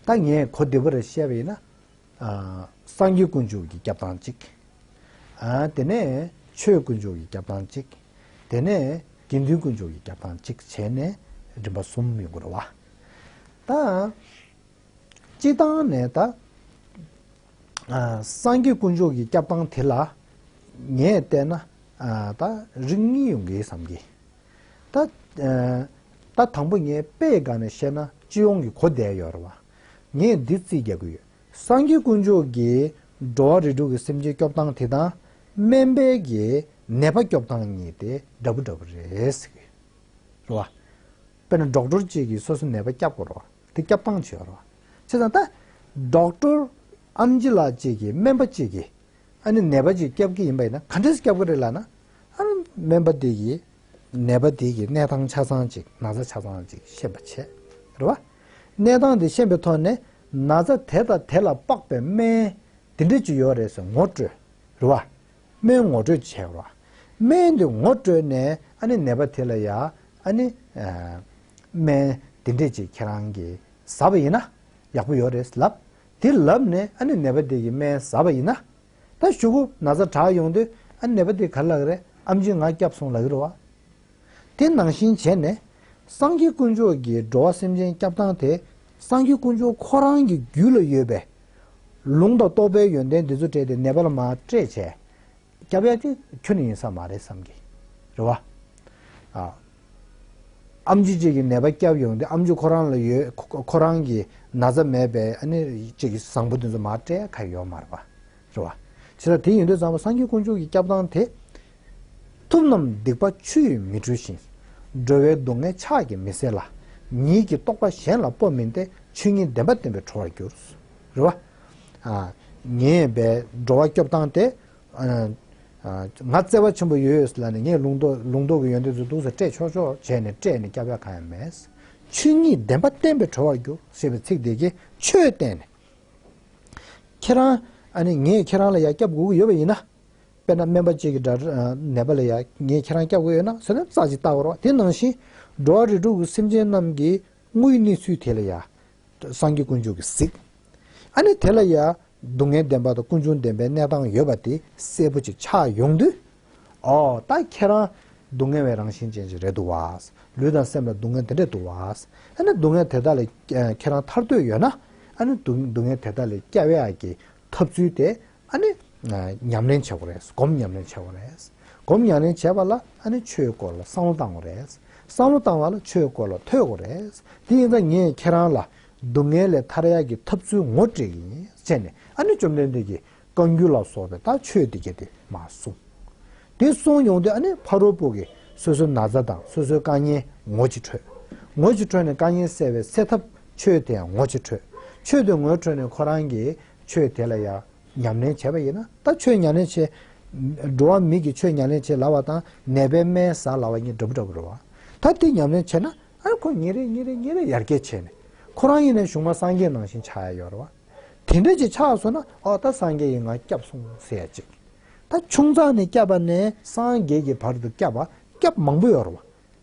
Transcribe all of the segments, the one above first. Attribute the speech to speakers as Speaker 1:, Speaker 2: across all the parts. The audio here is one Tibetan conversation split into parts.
Speaker 1: ད་ངས་གོ་བདེ་བོ་རེ་བཤད་པ་ཡིན་ན། སངས་རྒྱས་དཀོན་མཆོག་གི་རྒྱབ་དང་གཅིག། དེ་ནས་ཆོས་དཀོན་མཆོག་གི་རྒྱབ་དང་གཅིག། དེ་ནས་དགེ་འདུན་དཀོན་མཆོག་གི་རྒྱབ་དང་གཅིག་བྱས་ནས་རིམ་པ་གསུམ་ཡོང་གི་རེད་བ། ད་སྤྱི་བཏང་ནས་ད་སངས་རྒྱས་དཀོན་མཆོག་གི་རྒྱབ་དང་དེ་ལ་ངས་བལྟས་ན་ད་རིགས་གཉིས་ཡོང་གི་ཡོད་བསམ་གི། ད། དང་པོ་ངས་དཔེ་དགག་ནས་བཤད་ན་སྤྱི་ཡོངས་ཀྱི་གོ་བདེ་ཡོད་རེད་བ། ངས་འདི་རྩིས་རྒྱག་གི་ཡོད། སངས་རྒྱས་དཀོན་མཆོག་གིས་འགྲོ་བ་རིགས་དྲུག་གི་སེམས་ཅན་སྐྱོབ་སྟངས་དེ་དང། སྨན་པས་གིས་ནད་པ་སྐྱོབ་སྟངས་གཉིས་དེ་འདྲ་པོ་འདྲ་པོ་རེད་ཟེར་གི་ཡོད་རེད་བ། དཔེར་ན་འགྲོགས་སྐྲོར་བཅས་ཀྱིས་སོ་སོའི་ནད་པ་སྐྱབས་དགོས་རེད་བ། དེ་སྐྱབས་སྟངས་ཇི་ཡོད་རེད་བ། བྱས་ཙང་ད། འགྲོགས་སྐྲོར། ཨམ་ཅི་ལགས་བཅས་ཀྱིས་སྨན་པ་བཅས་ཀྱིས། ཨ་ནི་ནད་པ་གཅིག་སྐྱབས་ཀྱི་ཡིན་པ་ཡིན་ན་ག་འདྲས་སུ་སྐྱབས་ཀྱི་རེད་ལགས་ན། ཨ་ནི་སྨན་པ་དེ་ཡིས་ནད་པ་དེ་ཀྱི་ནད་དང་ཆ་ཚང་ཅིག་ན་ཚ་ཆ་ཚང་ཅིག་ཤེས་པ་བྱས་རེད་བ། ནད་དང་དེ་ཤེས་པའི་ཐོག་ནས་ན་ཚ་དེ་དང་དེ་ལ་དཔག་པའི་སྨན་དེ་འདྲས་ཅིག་ཡོད་རེད་ཟེར་ངོ་སྤྲོད་རེད་བ། སྨན་ངོ་སྤྲོད་བྱས་རེད་བ། སྨན་དེ་ངོ་སྤྲོད་ནས་ཨ་ནི་ནད་པ་དེ་ལ་ཡ་ཨ་ནི། སྨན་དེ་འདྲས་ཅིག་ཁྱེད་རང་གིས་ཟ་བ་ཡིན་ན་ཡག་པོ་ཡོད་རེད་ལབ། དེ་ལབ་ནས་ཨ་ནེ་ནད་པ་དེ་གི་སྨན་བཟའ་བ་ཡིན་ན། ད་ཞུ་གུ་ན་ཚ་དྲག་ཡོང་དུས་ཨ་ནེ་པ་དེ་ག་ལ་རེད་ཨམ་ཆི་ང་སྐྱབས་སོང་ལ་གི་རུ་བ། དེ་ནང་བཞིན་བྱས་ནས། སང་རྒྱུད་དཀོན་མཆོག་གི་འགྲོ་བ་སེམས་ཅན་སྐྱབས་སྟངས་དེ། སང་རྒྱུད་དཀོན་མཆོག་ཁོ་རང་གི་རྒྱུད་ལ་ཡོད་པའི། ལུང་དང་རྟོགས་པའི་ཡོན་ཏན་འདི་ཚོ་སྤྲད་དེ་ནད་པ་ལ་མ་སྤྲད་བྱས། སྐྱབས་ཡ་གི་ཁྱོད་ནི་ཡིན་ས་མ་རེད་བསམ་གི་རུ་བ། ཨམ་ཆུ་བཅས་ཀྱི་ནད་པ་བསྐྱབས་ཡོང་སྟེ་ཨམ་ཆུ་ཁོ་རང་ལ་ཡོད་ཁོ་རང་གི་ན་ཚ་མེད་པས་ཨ་ནེ་གཅིག་གིས་བཟང་པོ་འདི་ཚོ་མར་སྤྲད་ཁ་ཡོད་མ་རེད་པ་རེད་བ། བྱས་ཙང་དེ་ཡིན་དུས་ཙམ་ལ་སངས་རྒྱས་དཀོན་མཆོག་གི་སྐྱབས་དང་དེ་ཐུབ་རྣམས་སྡིག་པ་ཆུ་ཡིས་མི་འཁྲུ་ཞིང། སྒྲོལ་བའི་སྡུག་བསྔལ་ཕྱག་གིས་མི་སེལ་ལ། ཉིད་ཀྱི་རྟོགས་པ་གཞན་ལ་སྤོབས་མིན་ཏེ་ཆོས་ཉིད་བདེན་པ་བསྟན་པའི་བྲོ་བར་གྱུར། རེད་བ། ངེས་པའི་འགྲོ་བ་སྐྱོབ་དང་དེ་ང་བརྩེ་བ་ཆེན་པོ་ཡོད་ཡོད་ལ་ནི་ངས་ལུང་རྟོགས་ཀྱི་ཡོན་ཏན་ཚོ་གདུགས་སུ་སྤྲད་ཆོག་ཆོག་བྱས་ནས་བཀྲེས་ནས་སྐྱབས་ཡ་གང་ཡང་མེད། ཆོས་ཉིད་བདེན་པ་བསྟན་པས་གྲོལ་བར་འགྱུར་ཞེས་པའི་ཚིག་དེ་གས་ཆོས་བསྟན་ནས། ཁྱེད་རང་ཨ་ནི་ངས་ཁྱེད་རང་ལ་ཡང་སྐྱབས་དགོས་ཀྱི་ཡོད་པ་ཡིན་ན། དཔེར་ན་སྨན་པ་གཅིག་གིས་དགྲ་ནད་པ་ལ་ཡང་ངས་ཁྱེད་རང་སྐྱབས་དགོས་ཡོད་ན་ཟེར་ན་རྩ་གཅིག་བལྟ་བར་རོགས་དེ་ནང་བཞིན་འགྲོ་བ་རིས་དྲུག་གི་སེམས་ཅན་རྣམས་ཀྱི་དངོས་གནས་ཚུལ་དེ་ལ་ཡང། སངས་རྒྱས་དཀོན་མཆོག་གིས་གཟིགས། ཨ་ནི་དེ་ལ་ཡང་སྡུག་བསྔལ་བདེན་པ་དང་ཀུན་འབྱུང་བདེན་པའི་གནས་སྟངས་ཡོད་པ་དེ་གསལ་པོ་ཅིག་ཆགས་ཡོང་དུས། ཨོ། ད་ཁྱེད་རང། སྡུག་བསྔལ་བའི་རང་བཞིན་ཅན་ཞིག་རེད་འདུག་བ། ལུས་དང་སེམས་ལ་སྡུག་བསྔལ་དེ་འདྲས་འདུག་བ། ཨ་ནི་སྡུག་བསྔལ་དེ་དག་ལས་ཁྱེད་རང་ཐར་འདོད་ཡོད་ན། ཨ་ནི་སྡུག་བསྔལ་དེ་དག་ལས་སྐྱ་བའི་ཨག་གི་ཐབས་ཚུལ་དེ་ཨ་ནི། ཉམས་ལེན་བྱེད་དགོས་རེད། སྒོམ་ཉམས་ལེན་བྱེད་དགོས་རེད། སྒོམ་ཉམས་ལེན་བྱས་པ་ལ་ཨ་ནི་ཆོས་སྐོར་ལ་བསམ་བློ་བཏང་དགོས་རེད། བསམ་བློ་བཏང་བ་ལ་ཆོས་སྐོར་ལ་ཐོས་དགོས་རེད། དེ་ཡིན་ཙང་ངས་ཁྱེད་རང་ལ་སྡུག་བསྔལ་ལས་ཐར་ཡག་གི་ཐབས་ཚུལ་ངོ་སྤྲད་ཀྱི་ཡིན་ཟེར་ནས་ཨ་ནེ་བཅོམ་ལྡན་འདས་ཀྱིས་བཀའ་འགྱུར་ལ་སོགས་པའི་ལྟ་ཆོས་འདི་སྐད་དེ་མ་གསུངས། དེ་གསུངས་ཡོང་དུས་ཨ་ནེ་ཕ་རོལ་པོ་གིས་སོ་སོའི་ན་བཟའ་དང་སོ་སོའི་བཀའ་ཉན་ངོ་ཅི་འཕྲོད། ངོ་ཅི་འཕྲོད་ནས་བཀའ་ཉན་གསལ་བའི་སད་ཐབས་ཆོས་དེ་ཡང་ངོ་ཅི་འཕྲོད། ཆོས་དེ་ངོ་འཕྲོད་ནས་ཁོ་རང་གིས་ཆོས་དེ་ལ་ཡང་ཉམས་ལེན་བྱས་པ་ཡིན་ན་ལྟ་ཆོས་ཉམས་ལེན་བྱེད། འགྲོ་བ་མིག་གིས་ཆོས་ཉམས་ལེན་བྱེད་ལ་བ་དང་ནད་པའི་སྨན་ཟ་ལ་བ་གཉིས་འདྲ་པོ་འདྲ་པོ་རེད་བ། ད་དེ་ཉམས་ལེན་བྱས་ན་ཨ་ཁོ་ཉིན་རེ་ཉིན་རེ་ཉིན་རེ་ཡར་རྒྱས་ཆེ་ནས། ཁོ་རང་ཡེ་ནས་གཞུང་མ་སངས་རྒྱས་ནང་བཞིན་ཆགས་ཡ་ཡོད་རེད་བ། དེ་འདྲ་ཅིག་ཆགས་སོང་ན་ཨོ་ད་སངས་རྒྱས་ཡི་ང་སྐྱབས་སོང་ཟེར་ཡ་ཅིག། ད་ཆུང་ཙག་ནས་སྐྱབས་པ་ནས་སངས་རྒྱས་ཀྱི་བར་དུ་སྐྱབས་པ་སྐྱབས་མང་པོ་ཡོད་རེད་བ།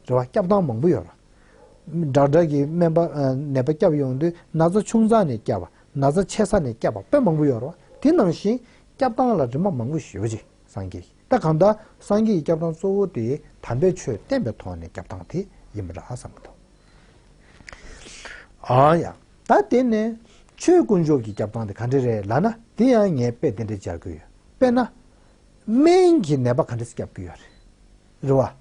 Speaker 1: རེད་བ་སྐྱབས་སྟངས་མང་པོ་ཡོད་རེད་བ། དྲག་དྲག་གིས་སྨན་པ་ནད་པ་སྐྱབས་ཡོང་དུས་ན་ཚ་ཆུང་ཙག་ནས་སྐྱབས་པ་ན་ཚ་ཆེ་ས་ནས་སྐྱབས་པ་དཔེ་མང་པོ་ཡོད་རེད་བ། དེ་ནང་བཞིན་སྐྱབས་སྟངས་ལ་རིམ་པ་མང་པོ་ཞིག་ཡོད་ཅིག་སངས་རྒྱས། ད་གང་ལྟར་སངས་རྒྱས་ཀྱི་སྐྱབས་དང་གཙོ་བོ་དེ་དམ་པའི་ཆོས་བསྟན་པའི་ཐོག་ནས་སྐྱབས་དང་དེ་ཡིན་པ་ར་བསམ་མི་ཐུབ། ཨང་ཡང། ད་དེ་ནས། ཆོས་དཀོན་མཆོག་གི་སྐྱབས་དང་དེ་ག་འདྲི་རེད་ལ་ན་དེ་ཡང་ངས་དཔེ་དེ་འདྲ་སྦྱར་གྱི་ཡོད། དཔེར་ན། སྨན་གྱིས་ནད་པ་ག་འདྲི་སྐྱབས་ཀྱི་ཡོད་རེད། རེད་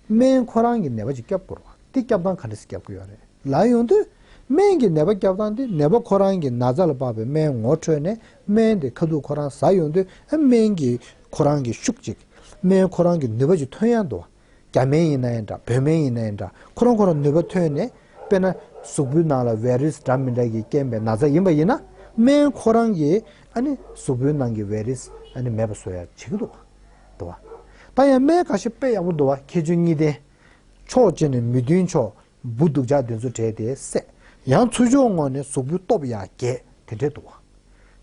Speaker 1: བ། སྨན་ཁོ་རང་གིས་ནད་པ་ཅིག་སྐྱབས་དགོས་རེད་བ། དེ་སྐྱབས་དང་ག་འདྲི་སྐྱབས་ཀྱི་ཡོད་རེད་ལ་ཡོང་དུས། སྨན་གྱིས་ནད་པ་སྐྱབས་དང་དེ་ནད་པ་ཁོ་རང་གིས་ན་ཚ་ལ་དཔག་པའི་སྨན་ངོ་འཕྲོད་ནས་སྨན་དེ་ཁ་ཐུག་ཁོ་རང་ཟ་ཡོང་དུས་སྨན་གྱིས་ཁོ་རང་གིས་ཤུག་ཅིག་སྨྲས་ཁོ་རང་གིས་ནུས་པ་ཅིག་ཐོན་ཡ་འདུག་རྒྱ་སྨན་ཡིན་ན་ཡང་འདྲ་བོད་སྨན་ཡིན་ན་ཡང་འདྲ་ཁོ་རང་ཁོ་རང་ནུས་པ་ཐོན་ནས་དཔེར་ན་གཟུགས་པོའི་ནང་ལ་བའི་རིས་འདྲ་མི་འདྲ་གིས་རྐྱེན་པའི་ན་ཚ་ཡིན་པ་ཡིན་ན་སྨན་ཁོ་རང་གིས་ཨ་ནི་གཟུགས་པོའི་ནང་གི་བའི་རིས་ཨ་ནི་མེད་པ་བཟོ་ཡ་བྱེད་ཀྱི་འདུག་འདུག་བ། ད་ཡང་སྨན་ག་ཤེད་དཔེ་ཡག་པོ་འདུག་བ་ཁྱེད་ཆོས་གཉིས་ལྡན། ཕྱོགས་གཅིག་ནས་མི་མཐུན་ཕྱོགས་སྦུ་གདུག་ལྕགས་བདུན་ཚོ་དྲས་ཏེ་བསད། ཡང་ཚུར་ཕྱོགས་བསྔོ་ནས་གཟུགས་ཕུད་སྟོབས་ཡང་རྒྱས་དེ་འདྲའི་འདུག།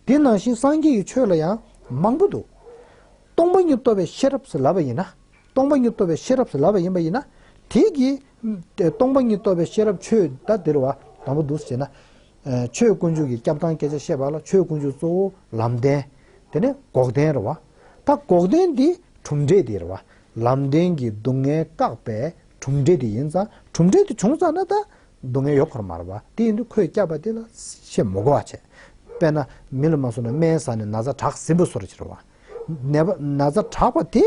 Speaker 1: དེ་ནང་བཞིན་སངས་རྒྱས་ཀྱི་ཆོས་ལ་ཡང་མང་པོ་འདུག། སྟོང་པ་ཉིད་རྟོགས་པའི་ཤེས་རབ་ལ་བ་ཡིན་ན། སྟོང་པ་ཉིད་རྟོགས་པའི་ཤེས་རབ་ལ་བ་ཡིན་པ་ཡིན་ན། དེས་ཀྱི། སྟོང་པ་ཉིད་རྟོགས་པའི་ཤེས་རབ་ཆོས་ད་འདིར་བ་དང་པོ་འདུག་ཅེ་ན། ཆོས་དཀོན་མཆོག་གི་སྐྱབས་དང་སྐད་ཆ་བཤད་པ་ལ་ཆོས་དཀོན་མཆོག་གཙོ་བོ་ལམ་བདེན། དེ་ནས་འགོག་བདེན་རེད་བ། ད་འགོག་བདེན་འདི་གྲུབ་འབྲས་འདིར་བ་ལམ་བདེན་གྱི་སྡུག་བསྔལ་བཀག་པའི་གྲུབ་འབྲས་དེ་ཡིན་ཙང་གྲུབ་འབྲས་དེ་བྱུང་ཙང་ན་ད་སྡུག་བསྔལ་ཡོད་ཁོར་མ་རེད་པ་དེ་ཡིན་དུས་ཁོས་སྐྱག་པ་དེ་ལ་ཆེས་མོ་གོ་བ་བྱས། དཔེར་ན་མི་ལ་མ་སོ་ན་སྨན་ཟ་ནས་ན་བཟའ་དྲག་ཟིན་པོ་སོར་ཕྱིར་བ། ནད་པ་ན་བཟའ་དྲག་པ་དེ་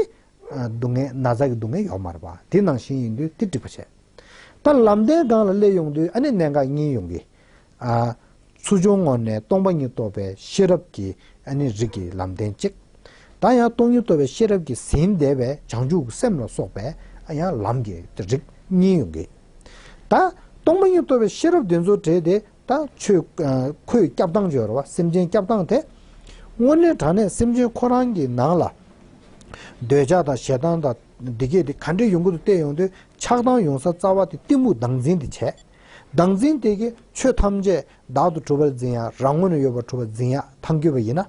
Speaker 1: སྡུག་བསྔལ་ན་བཟའ་གི་སྡུག་བསྔལ་ཡོད་མ་རེད་པ་དེ་ནང་བཞིན་ཡིན་དུས་དེ་འགྲིག་པ་བྱས། ད་ལམ་བདེན་སྒང་ལ་སླེབས་ཡོང་དུས་ཨ་ནི་ནད་འགག་གཉིས་ཡོང་གི། ཨཱ། ཚུར་བྱུང་ངོར་ནས་སྟོང་པ་ཉིད་རྟོགས་པའི་ཤེས་རབ་ཀྱིས་ཨ་ནི་རིགས་ཀྱི་ལམ་བསྟན་ཅིག། ད་ཡང་སྟོང་ཉིད་རྟོགས་པའི་ཤེས་རབ་ཀྱིས་ཟིན་འདས་པའི་བྱང་ཆུབ་སེམས་ལ་སོགས་པའི་ཨ་ཡང་ལམ་གྱི་རིགས་གཉིས་ཡོང་གི། ད་སྟོང་པ་ཉིད་རྟོགས་པའི་ཤེས་རབ་དེ་ཚོ་དྲས་ཏེ་ད་ཆོས་ཁོས་སྐྱབས་དང་སྦྱོར་བ་སེམས་ཅན་སྐྱབས་དང་དེ། སྔོན་གནས་དྲངས་ནས་སེམས་ཅན་ཁོ་རང་གི་ནང་ལ། འདོད་ཆགས་དང་ཞེ་སྡང་དང་སྡིག་སྐྱེད་དེ་ག་འདྲས་ཡོང་གི་འདུག་བལྟས་ཡོང་དུས་ཆགས་སྡང་ཡོང་ས་རྩ་བ་དེ་གཏི་མུག་སྡང་འཛིན་དེ་བྱས། བདག་འཛིན་དེ་ཀས་ཆོས་ཐམས་ཅད་བདག་ཏུ་གྲུབ་པར་འཛིན་ཡང་རང་ངོ་ནས་ཡོད་པར་གྲུབ་པར་འཛིན་ཡག་ཐང་རྒྱུས་པ་ཡིན་ན།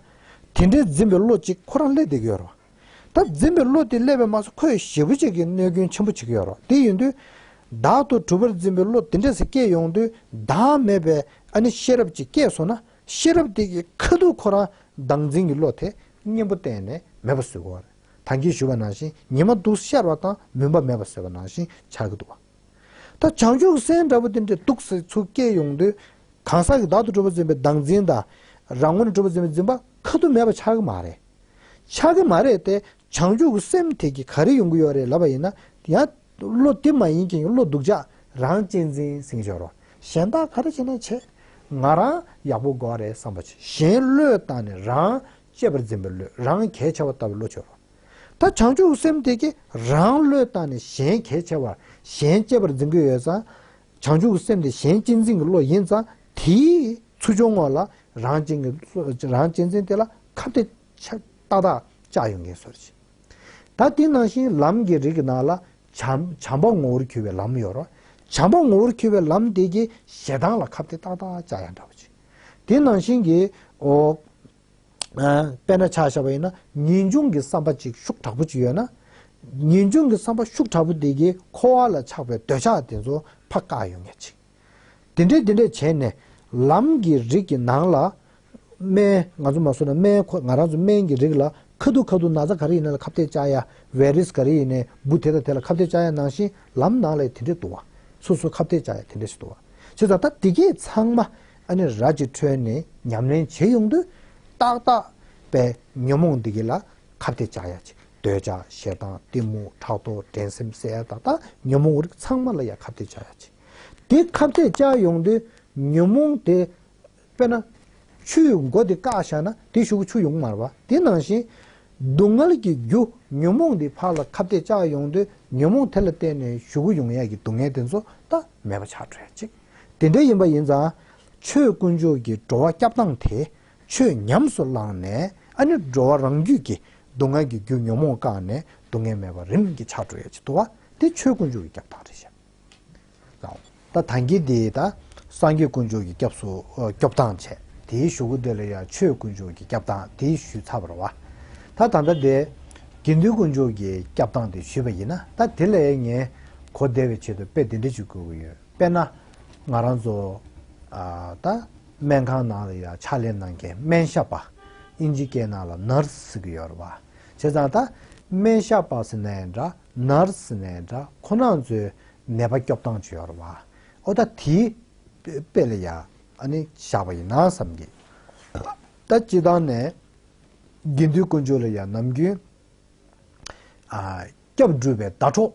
Speaker 1: དེ་འདྲའི་འཛིན་པའི་བློ་གཅིག་ཁོ་རང་སླེ་བསྡད་ཀྱི་ཡོད་རོ། ད་འཛིན་པའི་བློ་དེ་སླེ་བས་མ་ཚོ་ཁོས་ཞེ་བུ་གཅིག་གིས་གནོད་སྐྱོན་ཆེན་པོ་བྱེད་ཀྱི་ཡོད་རོ་དེ་ཡིན་དུས། བདག་ཏུ་གྲུབ་པར་འཛིན་པའི་བློ་དེ་འདྲས་སྐྱེས་ཡོང་དུས་བདག་མེད་པས་ཨ་ནི་ཤེས་རབ་ཅིག་སྐྱེས་སོང་ན་ཤེས་རབ་དེ་ཀྱིས་ཁ་ཐུག་ཁོ་རང་བདག་འཛིན་གྱི་བློ་དེ་གཉེན་པོ་གཏན་ནས་མེད་པ་བཟོས་གི་འོ་རེད་ད་ཁྱེད་ཞུ་བ་ནང་བཞིན་ཉི་མ་དུག་སེར་ཤར་བ་དང་མུན་པ་མེད་པ་བཟོས་པ་ནང་བཞིན་ཆགས་ཀྱི་འདུག་བ། ད་བྱང་ཆུབ་སེམས་འདྲ་པོ་དེ་འདྲའི་སྡུག་བསྲན་ཚུལ་སྐྱེས་ཡོང་དུས། གང་ཟག་གིས་བདག་ཏུ་གྲུབ་པར་འཛིན་པའི་བདག་འཛིན་དང། རང་ངོ་ནས་གྲུབ་པར་འཛིན་པའི་འཛིན་པ་ཁ་ཏུ་མེད་པ་ཆགས་ཀྱི་མ་རེད། ཆགས་ཀྱི་མ་རེད་དེ། བྱང་ཆུབ་ཀྱི་སེམས་དེ་གིས་ག་རེ་ཡོང་གི་ཡོད་རེད་ལབ་པ་ཡིན་ན། ཡང། བློ་དེ་མ་ཡིན་གྱིན་བློ་སྡུག་ཅག་རང་གཅེས་འཛིན་སེང་ཞོར་རོ། གཞན་དག་ག་རེ་བྱས་ན་བྱས། ང་རང་ཡག་པོ་དགོས་རེད་བསམ་པ་གཞན་བློས་བཏང་ནས་རང་གཅེས་པར་འཛིན་པའི་བློས་རང་གལ་ཆེ་བ་ལྟ་བུའི་བློ་ཆོད་རོ། ད་བྱང་ཆུབ་སེམས་དེ་ཀྱིས་རང་བློས་བཏང་ནས་གཞན་གལ་ཆེ་བར་གཞན་གཅེས་པར་འཛིན་གྱི་ཡོད་ཙང། བྱང་ཆུབ་སེམས་དེ་གཞན་གཅེས་འཛིན་གྱི་བློ་ཡིན་ཙང་དེའི་ཚུལ་བྱུང་ངོ་ལ་རང་གཅེས་འཛིན་དེ་ལ་ཁ་བརྡའི་ཏག་ཏག་བཅག་ཡོད་ངེས་སོ། ད་དེ་ནང་བཞིན་ལམ་གྱི་རིགས་ནང་ལ་བྱམས་པ་ངོ་བོར་གྱུར་པའི་ལམ་ཡོད་རོ། བྱམས་པ་ངོ་བོར་གྱུར་པའི་ལམ་དེ་ཀྱིས་ཞེ་སྡང་ལ་ཁ་བརྡའི་ཏག་ཏག་བཅག་ཡང་འདྲ་བ་ཅི། དེ་ནང་བཞིན་གྱི། དཔེར་ན་ཆ་བྱ་བ་ཡིན་ན་ངེས་འབྱུང་གི་བསམ་པ་ཅིག་ཤུགས་དྲག་པོ་ཅིག་ཡོད་ན། ངེས་འབྱུང་གི་བསམ་པ་ཤུགས་དྲག་པོ་དེ་གིས་འཁོར་བ་ལ་ཆགས་པའི་འདོད་ཆགས་དེ་ཚོ་ཕ་བཀག་ཡོང་ངེས་ཅིག། དེ་འདྲས་དེ་འདྲས་བྱས་ནས་ལམ་གྱི་རིགས་ཀྱི་ནང་ལ། སྨན། ང་ཚོ་མ་བཟོད་ན་སྨན་ཁོ་ང་རང་ཚོ་སྨན་གྱི་རིགས་ལ་ཁ་ཐུག་ཁ་ཐུག་ན་ཚ་ག་རེ་ཡིན་ན་ལ་ཁ་བཏད་བཅག་ཡ། བའི་རིས་ག་རེ་ཡིན་ནས་འབུ་དེ་དང་དེ་ལ་ཁ་བཏད་བཅག་ཡ་ནང་བཞིན་ལམ་ནང་ལ་ཡི་དེ་འདྲས་འདུག་བ། སོ་སོ་ཁ་བཏད་བཅག་ཡ་དེ་འདྲས་ཞིག་འདུག་བ། བྱས་ཙང་ད་དེ་གས་ཚང་མ་ཨ་ནི་ར་ཅི་ཁྲོས་ནས་ཉམས་ལེན་བྱེད་ཡོང་དུས། ཏག་ཏག་པའི་ཉོན་མོངས་འདི་གི་ལ་ཁབ་དེ་བཅག་ཡ་ཅིག་འདོད་ཆགས་ཞེ་སྡང་གཏི་མུག་ཕྲག་དོག་འགྲན་སེམས་བསད་ཡ་ཏག་ཏག་ཉོན་མོངས་རིགས་ཚང་མ་ལ་ཡ་ཁབ་དེ་བཅག་ཡ་ཅིག། དེ་ཁབ་དེ་བཅག་ཡོང་དུས་ཉོན་མོངས་དེ་དཔེར་ན། ཆུའི་མགོ་དེ་བཀག་བཞག་ན་དེ་ཞུགས་ཆུ་ཡོང་མར་བ་དེ་ནང་བཞིན། སྡུག་བསྔལ་གྱི་རྒྱུ་ཉོན་མོངས་འདི་ཕག་ལ་ཁབ་དེ་བཅག་ཡོང་དུས་ཉོན་མོངས་དེ་ལ་བརྟེན་ནས་ཞུགས་ཡོང་ཡ་གི་སྡུག་བསྔལ་དེ་ཚོ་ཏག་མེད་པ་ཆགས་འགྲོ་ཡ་ཅིག། དེ་འདྲ་ཡིན་པ་ཡིན་ཙང། ཆོས་དཀོན་མཆོག་གི་འགྲོ་བ་སྐྱབས་སྟངས་དེས་ཆོས་ཉམས་སུ་བླངས་ནས་ཨ་ནི་འགྲོ་བ་རང་རྒྱུད་ཀྱི་སྡུག་བསྔལ་གྱི་རྒྱུ་ཉོན་མོངས་བཀག་ནས་སྡུག་བསྔལ་མེད་པར་རིམ་གྱིས་ཆགས་འགྲོ་ཡ་བྱེད་དོ། དེ་ཆོས་དཀོན་མཆོག་གི་སྐྱབས་སྟངས་རེད་བཤད། ད་ཐང་གིས་དེ་ད་སངས་རྒྱས་དཀོན་མཆོག་གི་སྐྱབས་སུ་སྐྱོབས་སྟངས་བྱས། དེའི་ཞུ་སྒོ་དེ་ལ་ཡང་ཆོས་དཀོན་མཆོག་གི་སྐྱབས་སྟངས་དེ་ཞུས་ཚར་བར་བ། ད་ད་ལྟ་དེ་དགེ་འདུན་དཀོན་མཆོག་གི་སྐྱབས་སྟངས་དེ་ཞུས་པ་ཡིན་ན་ད་དེ་ལས་ངས་གོ་བདེ་བའི་ཆེད་དུ་དཔེ་དེ་འདྲ་ཅིག་བཀོད་ཀྱི་ཡོད། དཔེར་ན། ང་རང་ཚོ་ད་སྨན་ཁང་ནང་ལ་ཡོད་ཕྱག་ལས་གནང་མཁན་སྨན་ཞབས་པ། ཨིན་ཇི་སྐད་ནང་ལ Nurse ཟེར་གྱི་ཡོད་རེད་བ། བྱས་ཙང་ད་སྨན་ཞབས་པ་ཟེར་ནའི་འདྲ Nurse ཟེར་ནའི་འདྲ་ཁོ་ནང་ཚོའི་ནད་པ་སྐྱོབ་སྟངས་ཅི་ཡོད་རེད་བ། ཨོ་ད་དེའི་དཔེ་ལ་ཡང་བཞག་པ་ཡིན་ན་བསམ་གི། ད་སྤྱི་བཏང་ནས་དགེ་འདུན་དཀོན་མཆོག་ལ་ཡང་ནམ་རྒྱུན་སྐྱབས་སྒྲུབ་པའི་ཟླ་གྲོགས་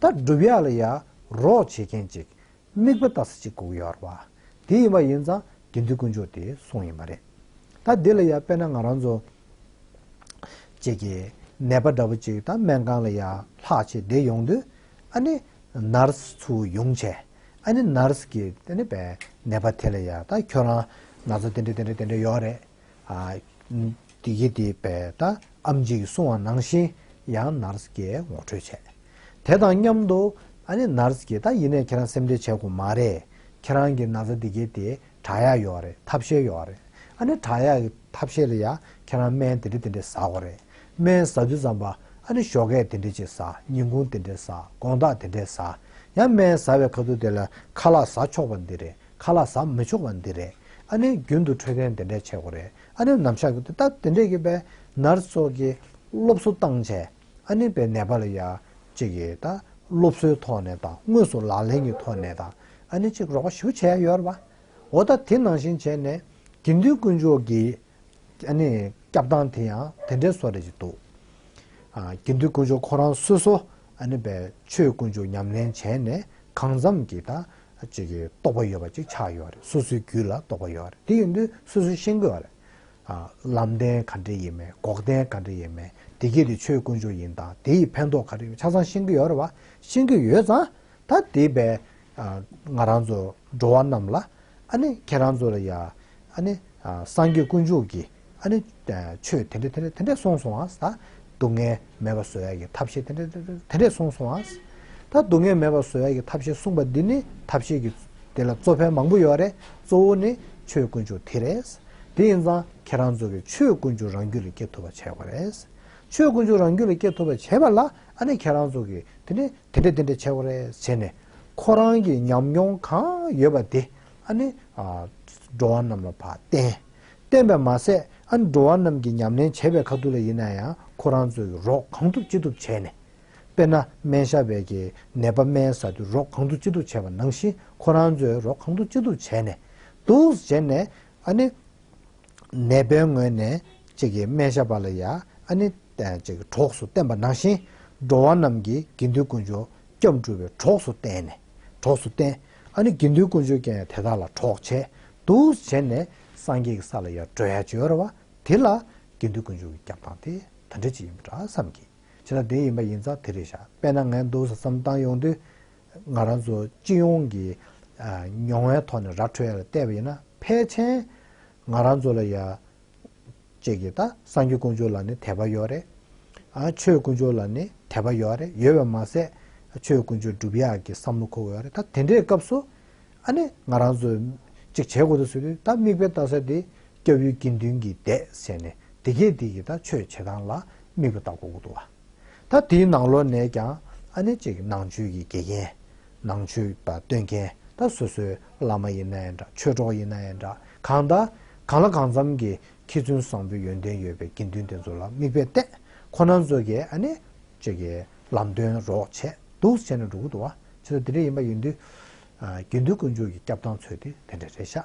Speaker 1: ད་སྒྲུབ་ཡ་ལ་ཡ་རོགས་བྱེད་མཁན་ཅིག་མིག་པ་ལྟ་ས་ཅིག་སྒུག་ཡོད་ར་བ་དེ་ཡིན་པ་ཡིན་ཙང་དགེ་འདུན་དཀོན་མཆོག་དེའི་གསུང་ཡིན་པ་རེད་ད་འདི་ལ་ཡ་དཔེ་ན་ང་རང་ཚོ་བཅས་ཀྱི་ནད་པ་འདྲ་བོ་ཅིག་ད་སྨན་ཁང་ལ་ཡ་ལྷག་ཆེད་བསྡད་ཡོང་དུས་ཨ་ནི Nurse ཚོའུ་ཡོང་ཆས་ཨ་ནི Nurse གིས་ཨ་ནི་པའི་ནད་པ་དེ་ལ་ཡ་ད་ཁྱོད་རང་ང་ཚོ་དེ་འདྲ་དེ་འདྲ་དེ་འདྲ་ཡོད་རེད། བདེ་སྐྱིད་དེ་བས་ད་ཨམ་ཅིག་སོང་བ་ནང་བཞིན་ཡང་ནར་སྐྱེས་ངོ་སྤྲོད་བྱས། དེ་དང་མཉམ་དུ། ཨ་ནི་ནར་སྐྱེས་ད་ཡིན་ནས་ཁྱེད་རང་སེམས་ཁྲལ་བྱེད་དགོས་མ་རེད། ཁྱེད་རང་གི་ན་ཚ་བདེ་སྐྱིད་དེ་དྲག་ཡག་ཡོད་རེད་ཐབས་ཤེས་ཡོད་རེད། ཨ་ནི་དྲག་ཡག་གི་ཐབས་ཤེས་ལ་ཡ་ཁྱེད་རང་སྨན་དེ་འདྲི་དེ་འདྲི་ཟ་དགོས་རེད། སྨན་ཟ་དུས་ཙམ་པ་ཨ་ནི་ཞོ་སྐད་དེ་འདྲི་ཅིག་ཟ་ཉིན་གུང་དེ་འདྲི་ཟ་དགོང་དག་དེ་འདྲི་ཟ། ཡང་སྨན་ཟ་བའི་ཁ་ཐུག་དེ་ལ་ཁ་ལག་ཟ་ཆོག་པ་འདི་རེད། ཁ་ལག་ཟམ་མི་ཆོག་པ་འདི་རེད་ཨ་ནེ་རྒྱུན་དུ་འཕྲོད་བསྟེན་དེ་འདྲས་བྱེད་དགོས་རེད་ཨ་ནེ་ནམ་ཞག་གི་ད་དེ་འདྲས་གི་བས་ནར་སོགས་ཀྱི་སློབ་གསོ་བཏང་བྱས་ཨ་ནེ་བས་ནད་པ་ལ་ཡག་ཅིག་གི་ད་སློབ་གསོའི་ཐོག་ནས་དང་དངོས་སུ་ལག་ལེན་གི་ཐོག་ནས་དང་ཨ་ནེ་ཅིག་རོགས་པ་ཞུ་བྱས་ཡོད་རེད་པ་འོ་ད་དེ་ནང་བཞིན་བྱས་ནས་དགེ་འདུན་དཀོན་མཆོག་གི་ཨ་ནེ་སྐྱབས་སྟངས་དེ་ཡང་དེ་འདྲས་སོགས་རེད་ཅིག་འདུག་ཨ་དགེ་འདུན་དཀོན་མཆོག་ཁོ་རང་སོ་སོ་ཨ་ནེ་བས་ཆོས་དཀོན་མཆོག་ཉམས་ལེན་བྱས་ནས་གང་འཚམ་གྱི་ད་ཅིག་གི་རྟོགས་པ་ཡོད་པ་ཅིག་ཆགས་ཡོད་རེད་སོ་སོའི་རྒྱུད་ལ་རྟོགས་པ་ཡོད་རེད་དེ་ཡིན་དུས་སོ་སོས་ཤེས་དགོས་རེད། ལམ་བདེན་ག་འདྲས་ཡིན་མིན་འགོག་བདེན་ག་འདྲས་ཡིན་མིན་དེ་སྐད་དུ་ཆོས་དཀོན་མཆོག་ཡིན་དང་དེ་ཡི་ཕན་ཐོགས་ག་འདྲས་ཡིན་ཆ་ཚང་ཤེས་ཀྱི་ཡོད་རེད་བ་ཤེས་ཀྱི་ཡོད་ཙང་ད་དེ་བས་ང་རང་ཚོ་འགྲོ་བ་རྣམས་ལ་ཨ་ནི་ཁྱེད་རང་ཚོ་ལ་ཡང་ཨ་ནི་སངས་རྒྱས་དཀོན་མཆོག་གིས་ཨ་ནི། ཆོས་དེ་འདྲས་དེ་འདྲས་དེ་འདྲས་གསུངས་སོང་ཨ། ད་སྡུག་བསྔལ་མེད་པ་བཟོ་ཡ་གི་ཐབས་ཤེས་དེ་འདྲས་དེ་འདྲས་དེ་འདྲས་གསུངས་སོང་ཨ། ད་སྡུག་བསྔལ་མེད་པ་བཟོ་ཡ་གི་ཐབས་ཤེས་གསུངས་པ་འདི་ནི་ཐབས་ཤེས་ཀྱི། དེ་ལ་གཙོ་ཕལ་མང་པོ་ཡོད་རེད་གཙོ་བོ་ནི་ཆོས་དཀོན་མཆོག་དེ་རེད། དེ་ཡིན་ཙང་ཁྱེད་རང་ཚོ་གིས་ཆོས་དཀོན་མཆོག་རང་རྒྱུད་ལ་སྐྱེ་ཐུབ་པ་བྱས་དགོས་རེད། ཆོས་དཀོན་མཆོག་རང་རྒྱུད་ལ་སྐྱེ་ཐུབ་པ་བྱས་པ་ལ་ཨ་ནི་ཁྱེད་རང་ཚོ་གིས་དེ་འདྲས་དེ་འདྲས་དེ་འདྲས་བྱས་དགོས་རེད་བྱས་ནས། ཁོ་རང་གི་ཉམས་མྱོང་གང་ཡོད་པ་དེ་ཨ་ནི། འགྲོ་བ་རྣམས་ལ་བསྟན། བསྟན་པས་མ་ཟད་ཨ་ནི་འགྲོ་བ་རྣམས་ཀྱིས་ཉམས་ལེན་བྱེད་པའི་ཁ་ཐུག་ལ་ཡིན་ན་ཡང་ཁོ་རང་ཚོས་ཀྱི་རོགས་གང་ཐུབ་ཅི་ཐུབ་བྱས་ནས། དཔེར་ན་སྨན་ཞབས་པས་ཀྱི་ནད་པ་སྨན་ཟ་དུས་རོགས་གང་ཐུབ་ཅི་ཐུབ་བྱས་པ་ནང་བཞིན་ཁོ་རང་ཚོས་རོགས་གང་ཐུབ་ཅི་ཐུབ་བྱས་ནས་འདུག་བྱས་ནས་ཨ་ནི། ནད་པའི་ངོས་ནས་ཅིག་གིས་སྨན་ཞབས་པ་ལ་ཡ་ཨ་ནི། གྲོགས་སུ་བསྟེན་པ་ནང་བཞིན་འགྲོ་བ་རྣམས་ཀྱིས་དགེ་འདུན་དཀོན་མཆོག་སྐྱབས་འགྲོ་བའི་གྲོགས་སུ་བསྟེན་ནས། གྲོགས་སུ་བསྟེན། ཨ་ནི་དགེ་འདུན་དཀོན་མཆོག་ཀྱང་ཡང་དེ་དག་ལ་གྲོགས་བྱས། དུ་བྱས་ནས་སངས་རྒྱས་ཀྱི་ས་ལ་ཡང་བྲོས་ཡ་བྱོས་ཨེ་ར་བ། དེ་ལ་དགེ་འདུན་དཀོན་མཆོག་གི་སྐྱབས་སྟངས་དེ་དེ་འདྲ་ཅིག་ཡིན་པ་འདྲ་བསམ་གྱིས། བྱས་ན་དེ་ཡིན་པ་ཡིན་ཙང་དེ་རེད་བཞག་དཔེར་ན་ངས་འདུག་ས་བསམ་བཏང་ཡོང་དུས། ང་རང་ཚོ་སྤྱི་ཡོངས་ཀྱི་མྱོང་བའི་ཐོག་ནས་ར་འཕྲོད་ཡ་ལ་བལྟས་པ་ཡིན་ན་ཕལ་ཆེན་ང་རང་ཚོ་ལ་ཡ་བཅས་ཀྱི་ད་སངས་རྒྱས་དཀོན་མཆོག་ལ་ནི་དད་པ་ཡོད་རེད། ཨ་ཆོས་དཀོན་མཆོག་ལ་ནི་དད་པ་ཡོད་རེད་ཡོད་པ་མ་ཟད་ཨ་ཆོས་དཀོན་མཆོག་སྒྲུབ་ཡག་གི་བསམ་བློ་འཁོར་བ་ཡོད་རེད་ད་དེ་འདྲའི་སྐབས་སུ་ཨ་ནི་ང་རང་ཚོས་གཅིག་བྱེད་དགོས་དུ་ཟེར་དུས་ད་མིག་དཔེ་ལྟ་ས་དེ་སྐྱབས་ཡུལ་དགེ་འདུན་གྱི་སྡེ་ཟེར་ནས་དེ་གས་དེ་ཀྱི་ད་ཆོས་བྱེད་སྟངས་ལ་མིག་དཔེ་ལྟ་དགོས་དགོས་འདུག་བ། ད་དེའི་ནང་ལོགས་ནས་ཀྱང་ཨ་ནེ་གཅིག་ནང་ཆོས་ཀྱི་དགེ་རྒན། ནང་ཆོས་པ་སྟོན་མཁན་ད་སོ་སོའི་བླ་མ་ཡིན་ན་ཡང་འདྲ་ཆོས་གྲོགས་ཡིན་ན་ཡང་འདྲ་གང་ད་གང་ལ་གང་འཚམ་གྱི་མཁས་བཙུན་བཟང་པོའི་ཡོན་ཏན་ཡོད་པའི་དགེ་འདུན་དེ་ཚོ་ལ་མིག་དཔེ་བལྟས་ཁོ་ན་ཚོ་གས་ཨ་ནེ་གཅིག་གི་ལམ་སྟོན་རོགས་བྱས་འདུག་བྱས་ན་འགྲོ་གི་འདུག་བ། ཆེ་ད་དེ་འདྲ་ཡིན་པ་ཡིན་དུས། དགེ་འདུན་དཀོན་མཆོག་གི་སྐྱབས་དང་ཚོད་དེ་དེ་འདྲ་རེད་ཤག་ཨ།